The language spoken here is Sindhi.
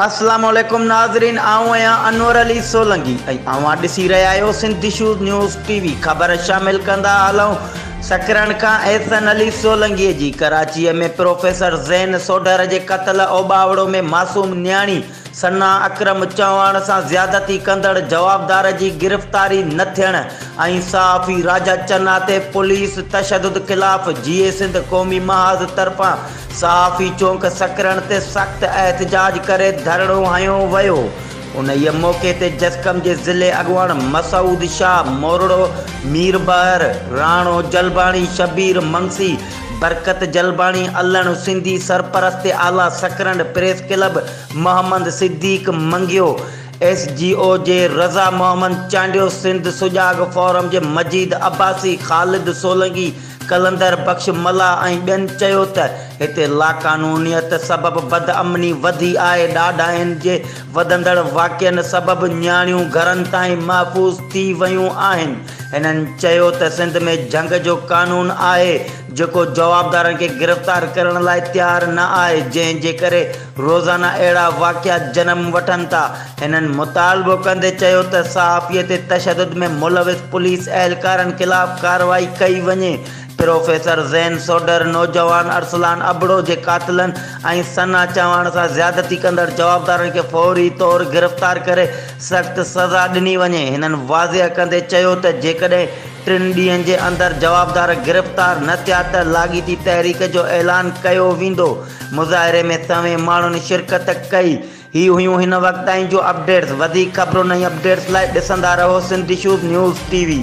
السلام عليڪم ناظرين آئون آهيان انور علي سولنگي ۽ اوهان ڏسي رهيا آهيو سنڌي شوز نيوز ٽي وي خبر شامل ڪندا هلون سکرن کان احسن علي سولنگي جي ڪراچي ۾ پروفيسر زين سوڍر جي قتل اوٻاوڙو ۾ معصوم نياڻي ثنا اڪرم چوهاڻ سان زيادتي ڪندڙ جوابدار جي گرفتاري نه ٿيڻ ۽ صحافي راجا چنا تي پوليس تشدد خلاف جيئي سنڌ قومي محاذ طرفان صحافي چونڪ سڪرڻ تي سخت احتجاج ڪري ڌرڻو هنيو ويو انهيء موقعي تي جسقم جي ضلعي اڳواڻ مسعود شاهه مورڙو ميربحر راڻو جلباڻي شبير منگسي برڪت جلباڻي علڻ سنڌي سرپرست اعليٰ Sakrand press club Muhammad Siddique Mangio, S G O جي رضا محمد چانڊيو، سنڌ سجاڳ فورم جي مجيد عباسي، خالد سولنگي، قلندر بخش ملاح ۽ ٻين چيو ته هتي لاقانونيت سبب بدامني وڌي آهي، ڏاڍاين جي وڌندڙ واقعن سبب نياڻيون گهرن تائين محفوظ ٿي ويون آهن، هنن چيو ته سنڌ ۾ جهنگ جو قانون آهي جيڪو جوابدارن کي گرفتار ڪرڻ لاء تيار نه آهي جنهن جي ڪري روزانه اهڙا واقعا جنم وٺن ٿا هنن مطالبو ڪندي چيو ته صحافي تي تشدد ۾ ملوث پوليس اهلڪارن خلاف ڪارروائي ڪئي وڃي پروفيسر زين سوڍر نوجوان ارسلان ابڙو جي قاتلن ۽ ثنا چوهاڻ سان زيادتي ڪندڙ جوابدارن کي فوري طور گرفتار ڪري سخت سزا ڏني وڃي. هنن واضح ڪندي چيو ته جيڪڏهن ٽن ڏينهن جي اندر جوابدار گرفتار نه ٿيا ته لاڳيتي تحريڪ جو اعلان ڪيو ويندو. مظاهري ۾ سوين ماڻهن شرڪت ڪئي. هي هيون هن وقت تائين جون اپڊيٽس. وڌيڪ خبرون ۽ اپڊيٽس لاء ڏسندا رهو سنڌيشوب نيوز ٽي وي.